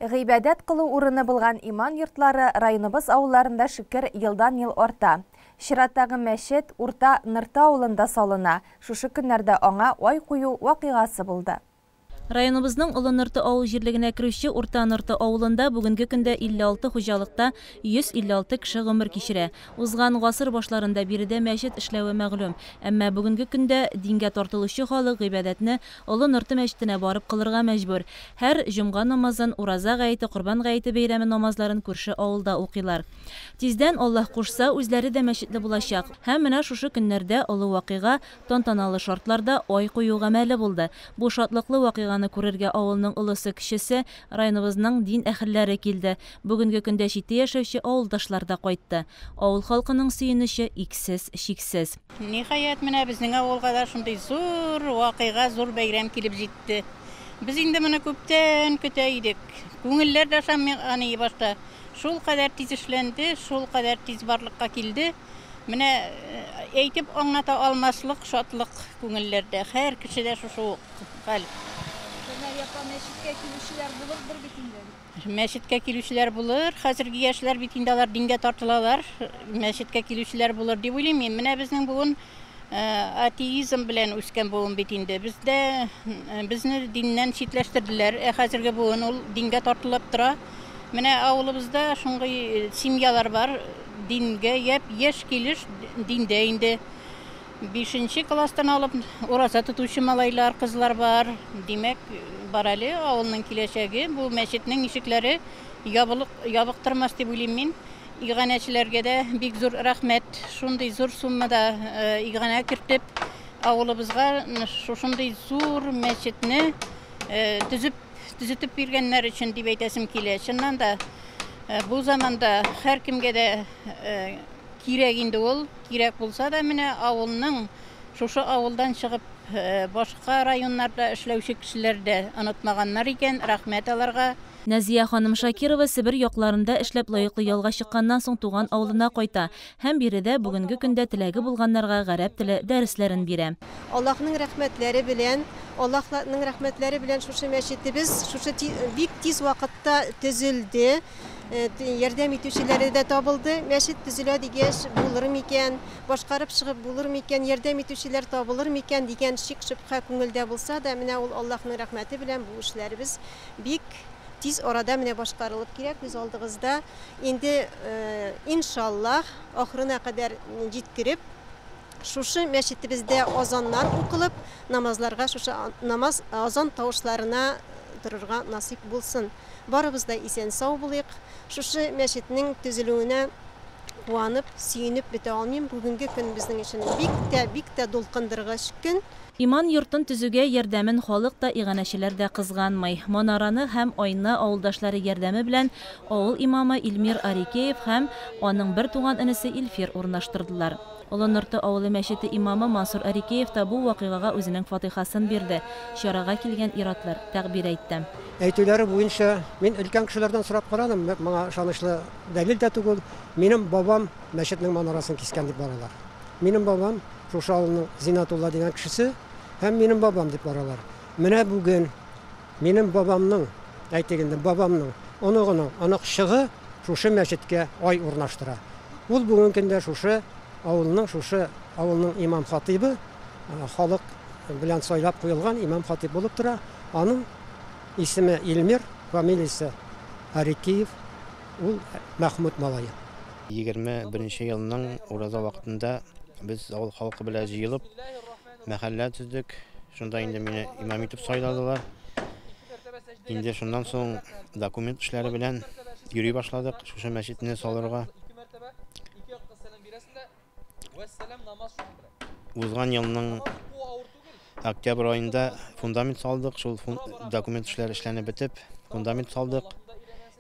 Гыйбадәт кылу урыны булган иман йортлары районыбыз авылларында шөкер елдан-ел арта. Чираттагы мәчет Урта Нырты авылында салына, шушы көннәрдә аңа ай кую вакыйгасы булды. Районыбызның Олы Нырты авыл җирлегенә керүче Урта Нырты авылында бүгенге көндә 56 хуҗалыкта 156 кеше гомер кичерә. Узган гасыр башларында биредә мәчет эшләве мәгълүм. Әмма бүгенге көндә дингә тартылучы халык гыйбадәтне Олы Норты мәчетенә барып кылырга мәҗбүр. Һәр җомга намазын, Ураза гаете, Корбан гаете бәйрәме намазларын күрше авылда укыйлар. Тиздән, Аллаһ кушса, үзләре дә мәчетле булачак. Һәм менә шушы көннәрдә олы вакыйга, тантаналы шартларда ай кую гамәле булды. Бу шатлыклы вакыйганы күрергә авылның олысы-кечесе, районыбызның дин әһелләре килде. Бүгенге көндә читтә яшәүче авылдашлар да кайтты. Авыл халкының сөенече иксез-чиксез. Ниһаять, менә безнең авылга да шундый зур вакыйга, зур бәйрәм килеп җитте. Без инде моны күптән көтә идек. Күңелләр дә ышанмый башта. Шулкадәр тиз эшләнде, шулкадәр тиз барлыкка килде. Менә әйтеп аңлата алмаслык шатлык күңелләрдә. Һәр кешедә шушы ук хәл. Шәмәр япа мәчеткә килүчеләр булырдыр бит инде? Мәчеткә килүчеләр булыр, хәзерге яшьләр бит инде алар дингә тартылалар, мәчеткә килүчеләр булыр дип уйлыйм мин. Менә безнең буын атеизм белән үскән буын бит инде. Бездә безне диннән читләштерделәр, ә хәзерге буын ул дингә тартылып тора. Менә авылыбызда шундый э, семьялар бар, дингә яп, яшь килеш диндә инде. Бишенче класстан алып ураза тотучы малайлар, кызлар бар. Димәк, бар әле авылның киләчәге. Бу мәчетнең ишекләре ябылык, ябык тормас дип уйлыйм мин. Иганәчеләргә дә бик зур рәхмәт. Шундый зур суммада иганә кертеп, авылыбызга шушындый зур мәчетне төзеп, төзетеп биргәннәр өчен дип әйтәсем килә. Чыннан да, бу заманда һәркемгә дә кирәк инде ул. Кирәк булса да, менә авылның, шушы авылдан чыгып, башка районнарда эшләүче кешеләр дә онытмаганнар икән, рәхмәт аларга. Нәзия ханым Шакирова Себер якларында эшләп лаеклы ялга чыкканнан соң туган авылына кайта һәм биредә бүгенге көндә теләге булганнарга гарәп теле дәресләрен бирә. Аллаһның рәхмәтләре белән, Аллаһ ның рәхмәтләре белән шушы мәчетебез шушы бик тиз вакытта төзелде. Э, ярдәм итүчеләре дә табылды. Мәчет төзелә дигәч, булыр микән, башкарып чыгып булыр микән, ярдәм итүчеләр табылыр микән дигән шик шөбһә күңелдә булса да, менә ул Аллаһның рәхмәте белән бу эшләребез бик тиз арада менә башкарылып килә күз алдыгызда. Инде э, иншаллаһ, ахырына кадәр җиткереп Шушы мәчетебездә азаннар укылып, намазларга шушы намаз, азан тавышларына торырга насыйп булсын. Барыбыз да исән-сау булыйк. Шушы мәчетнең төзелүенә куанып, сөенеп бетә алмыйм. Бүгенге көн безнең өчен бик тә, бик тә дулкындыргыч көн. Иман йортын төзүгә ярдәмен халык та, иганәчеләр дә кызганмый. Манараны һәм Айны авылдашлары ярдәме белән авыл имамы Илмир Арикеев һәм аның бертуган энесе Илфир урнаштырдылар. Олы Нырты авылы мәчете имамы Мансур Арикеев та бу вакыйгага үзенең фатыйхасын бирде, чарага килгән ир-атлар тәгъбир әйтте. Әйтүләре буенча, мин өлкән кешеләрдән сорап карадым, моңа ышанычлы дәлил дә түгел, минем бабам мәчетнең манарасын кискән дип баралар. Минем бабам, шушы авылның Зиннәтулла дигән кешесе, һәм минем бабам дип баралар. Менә бүген. Минем бабамның, әйтик инде, бабамның оныгының оныкчыгы шушы мәчеткә ай урнаштыра. Ул бүгенге көндә шушы авылның, шушы авылның имам-хатыйбы, халык белән сайлап куелган имам-хатыйб булып тора. Аның исеме Илмир, фамилиясе Арикиев, ул Мәхмүт малае. Егерме беренче елның ураза вакытында без авыл халкы белән җыелып, мәхәллә төздек. Шунда инде мине имам итеп сайладылар. Инде шуннан соң документ эшләре белән йөри башладык, шушы мәчетне салырга. Узган елның октябрь аенда фундамент салдык, шул документ эшләре эшләнеп бетеп, фундамент салдык.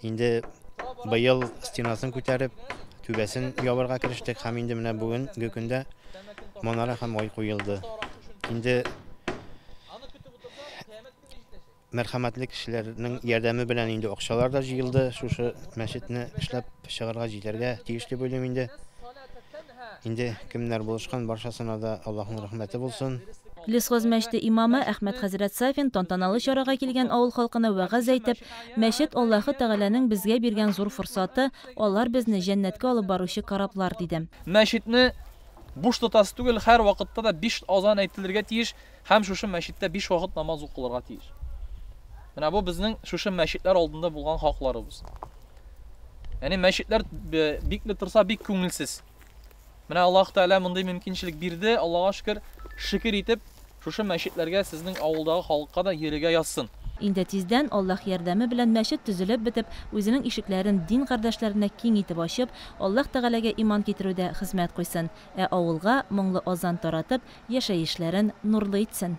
Инде быел стенасын күтәреп, түбәсен ябарга керештек һәм инде менә бүгенге көндә манара һәм ай куелды. Инде мәрхәмәтле кешеләрнең ярдәме белән инде акчалар да җыелды, шушы мәчетне эшләп чыгарга җитәргә тиеш дип уйлыйм инде. Инде кемнәр булышкан, барчасына да Аллаһның рәхмәте булсын. Лесхоз мәчете имамы Әхмәт хәзрәт Сафин тантаналы чарага килгән авыл халкына вәгазь әйтеп, Мәчет, Аллаһы Тәгаләнең безгә биргән зур форсаты, алар безне җәннәткә алып баручы кораблар, диде. Мәчетне буш тотасы түгел, һәр вакытта да биш азан әйтелергә тиеш һәм шушы мәчеттә биш вакыт намаз укылырга тиеш. Менә бу безнең шушы мәчетләр алдында булган хакларыбыз. Яни мәчетләр бикле торса бик күңелсез. Менә Аллаһ Тәгалә мондый мөмкинчелек бирде. Аллаһка шөкер, шөкер итеп, шушы мәчетләргә сезнең авылдагы халыкка да йөрергә язсын. Инде тиздән, Аллаһ ярдәме белән мәчет төзелеп бетеп, үзенең ишекләрен дин кардәшләренә киң итеп ачып, Аллаһ Тәгаләгә иман китерүдә хезмәт куйсын, ә авылга моңлы азан таратып, яшәешләрен нурлы итсен.